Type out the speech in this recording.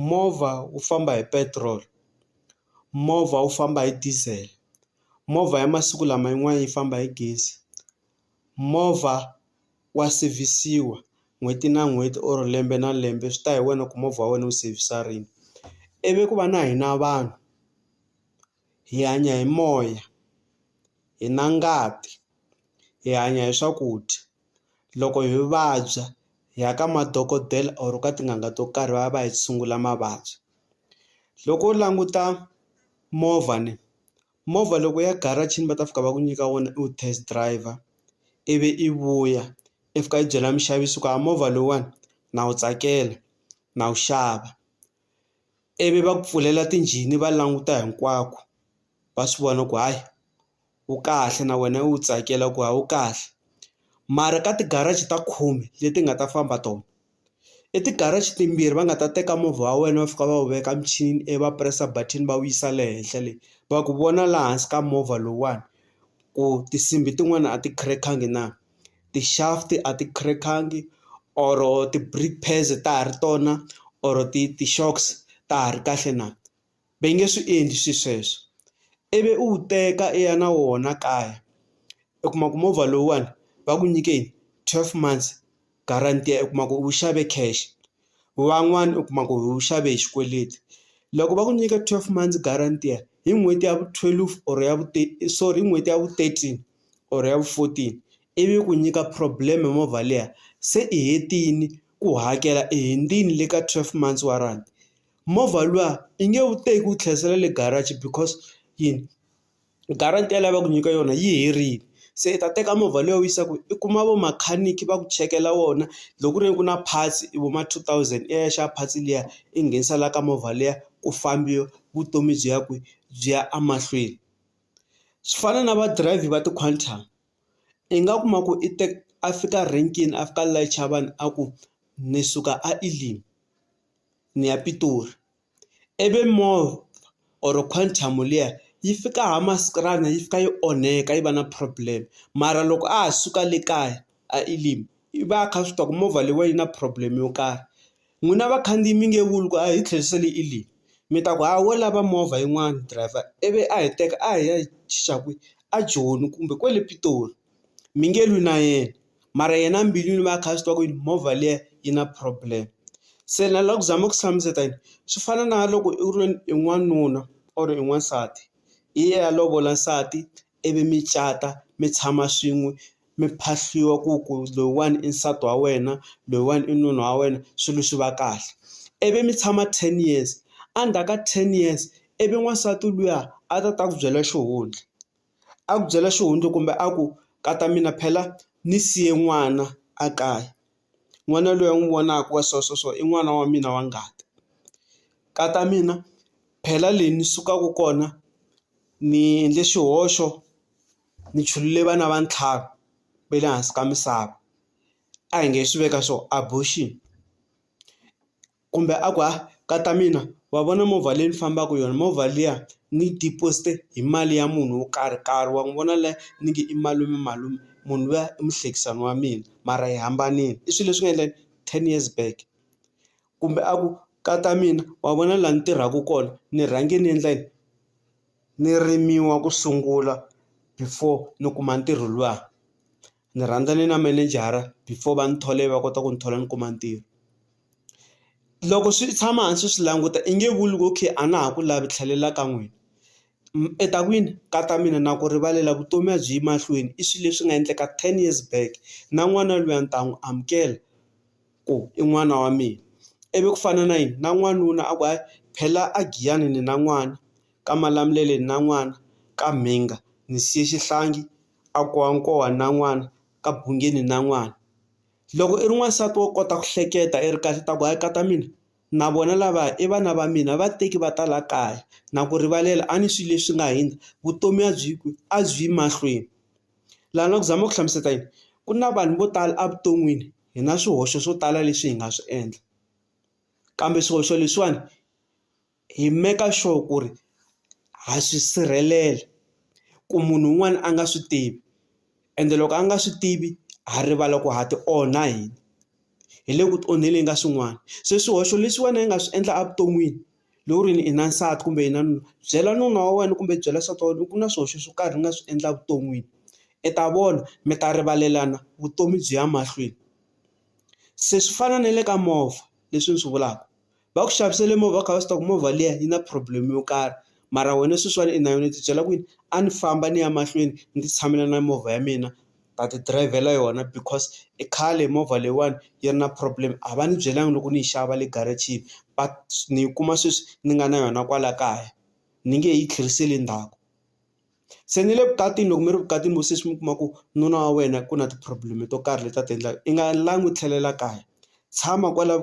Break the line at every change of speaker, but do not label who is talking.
movha wu famba hi petiroli, movha wu famba hi diesel, movha ya masiku lama yin'wani yi famba hi gezi, movha wa sevhisiwa n'hweti na n'hweti or lembe na lembe swi ta hi wena ku movha wa wena wu sevhisa rini ivi ku va na hina vanhu. hi hanya hi moya hi na ngati hi hanya hi swakudya loko hi vabya hi ya ka madokodela or ka tin'anga to karhi va ya va hi tshungula mavabyi loko u languta movha ni movha loko ya garage-ini va ta fika va ku nyika wona u test driver ivi i vuya i fika i byela muxavi swa ku a movha lowuwani na wu tsakela na wu xava. ivi va ku pfulela tinjhini va languta hinkwako va swi vona ku hayi wu kahle na wena u tsakela ku hawu kahle mara ka ti-garage ta khume leti nga ta famba tona i ti-garage timbirhi va nga ta teka movha wa wena va fika va wu veka michini ivi va press-a button va wu yisa le henhla le va ku vona laha hansi ka movha lowuwani ku tinsimbhi tin'wana a ti crack-angi na. ti-shaft a ti crack-angi or ti-brake pads ta ha ri tona or ti ti-shocks ta ha ri kahle na va nge swi endli swi sweswo ivi u wu teka i ya na wona kaya u kuma ku movha lowuwani va ku nyike twelve months guarantee u kuma ku u wu xave cash. van'wani u kuma ku u xave hi xikweleti loko va ku nyika twelve months guaranteer hi n'hweti ya vu twelve or ya vu sorry hi n'hweti ya vu thirteen or ya vu fourteen ivi ku nyika problem movha liya se i hetini ku hakela i hundzile le ka twelve months warrant movha luwa i nge wu teki wu tlherisela le garage because yini. guarantee leyi a va ku nyika yona yi herile se i ta teka movha lowu u yisiwaka i kuma vo makhaniki va ku chekela wona loko ku ri ku na parts i vo ma two thousand i ya i ya xava parts liya i nghenisa la ka movha liya ku fambiwa vutomi byi ya kwihi byi ya emahlweni. Swi fana na va driver va ti-quantum i nga kuma ku i teka a fika renkeni a fika a layicha vanhu a ku ni suka a Elim ni ya Pitori. ivi moth or quantum liya yi fika ha maskranya yi fika yi onheka yi va na problem mara loko a ha suka le kaya a Elim i va a kha a swi tiva ku movha leyi wa yi na problem yo karhi, n'wina vakhandziyi mi nge vuli ku a hi tlherisele Elim mi ta ku ha wo lava movha yin'wana driver ivi a hi teka a hi ya yi chicha kwihi a Joni kumbe kwale Pitori. mi nge lwi na yena mara yena mbilwini va kha swi tiva ku yini movha liya yi na problem se na la ku zama ku hlamusela yini swi fana na loko i ri i n'wanuna or i n'wansati i ya ya lovola nsati ivi mi cata mi tshama swin'we mi phahliwa ku ku loyiwani i nsati wa wena loyiwani i nuna wa wena swilo swi va kahle ivi mi tshama ten years endzhaku ka ten years ivi n'wansati luya a ta ta ku byela xihundla. a ku byela xihundla kumbe a ku ka ta mina phela ni siye n'wana a kaya n'wana loyi a n'wi vonaka wa so so so i n'wana wa mina wa ngati ka ta mina phela le ni sukaka kona ni endle xihoxo ni chulule vana va ntlhanu va le hansi ka misava a hi nge swi veka so abortion. kumbe a ku ha ka ta mina wa vona movha leyi ni fambaka yona movha liya ni deposit hi mali ya munhu wo karhi karhi wa n'wi vona la ni nge i malume malume munhu luya i muhlekisani wa mina mara hi hambanile i swilo leswi nga endleka ten years back kumbe a ku ka ta mina wa vona laha ni tirhaka kona ni rhange ni endla yini ni rimiwa ku sungula before ni kuma ntirho luwa Ni rhandzane na manejara before va ni thole va kota ku ni thola ni kuma ntirho. Loko swi tshama hansi swi languta i nge vuli ku okay a na ha ku lavi tlhelela ka n'wina. I ta kwini? Ka ta mina na ku rivalela vutomi a byi yi mahlweni i swilo leswi nga endleka ten years back na n'wana luya ni ta n'wi amukela ku i n'wana wa mina. Ivi ku fana na yini na n'wanuna a ku hayi phela a Giyani ni na n'wana ka Malamulele ni na n'wana ka Mhinga ni siye xihlangi. a ku wa nkowa na n'wana ka bungeni na n'wana loko i ri n'wansati wo kota ku hleketa i ri kahle ta ku hayi ka ta mina na vona lava i vana va mina va teki va ta la kaya na ku rivalela a ni swi leswi nga hina vutomi a byi ku a byi yi mahlweni laha na ku zama ku hlamusela yini ku na vanhu vo tala evuton'wini hi na swihoxo swo tala leswi hi nga swi endla kambe swihoxo leswiwani. hi make-a sure ku ri ha swi sirhelela ku munhu un'wana a nga swi tivi ende loko a nga swi tivi ha rivala ku ha ti onha hina, hi le ku ti onheleni ka swin'wana se swihoxo leswi wena i nga swi endla evuton'wini loko ku ri i na nsati kumbe i na nuna byela nuna wa wena kumbe byela nsati wa wena ku na swihoxo swo karhi ni nga swi endla evuton'wini i ta vona mi ta rivalelana vutomi byi ya mahlweni, se swi fana na le ka movha leswi ni swi vulaka va ku xavisele movha u kha u swi tiva ku movha liya yi na problem yo karhi mara wena sweswiwani i na yona u ti byela ku yini a ni famba ni ya mahlweni ni ti tshamela na movha ya mina ta ti dirayivhela yona because i khale movha leyiwani yi ri na problem a va ni byelanga loko ni yi xava le garage-ini va ni yi kuma sweswi ni nga na yona kwala kaya ni nge he yi tlheriseli ndzhaku se ni le vukatini loko mi ri vukatini vo sesi mi kuma ku nuna wa wena ku na ti-problem to karhi leti a ti endlaka i nga langi u tlhelela kaya tshama kwala .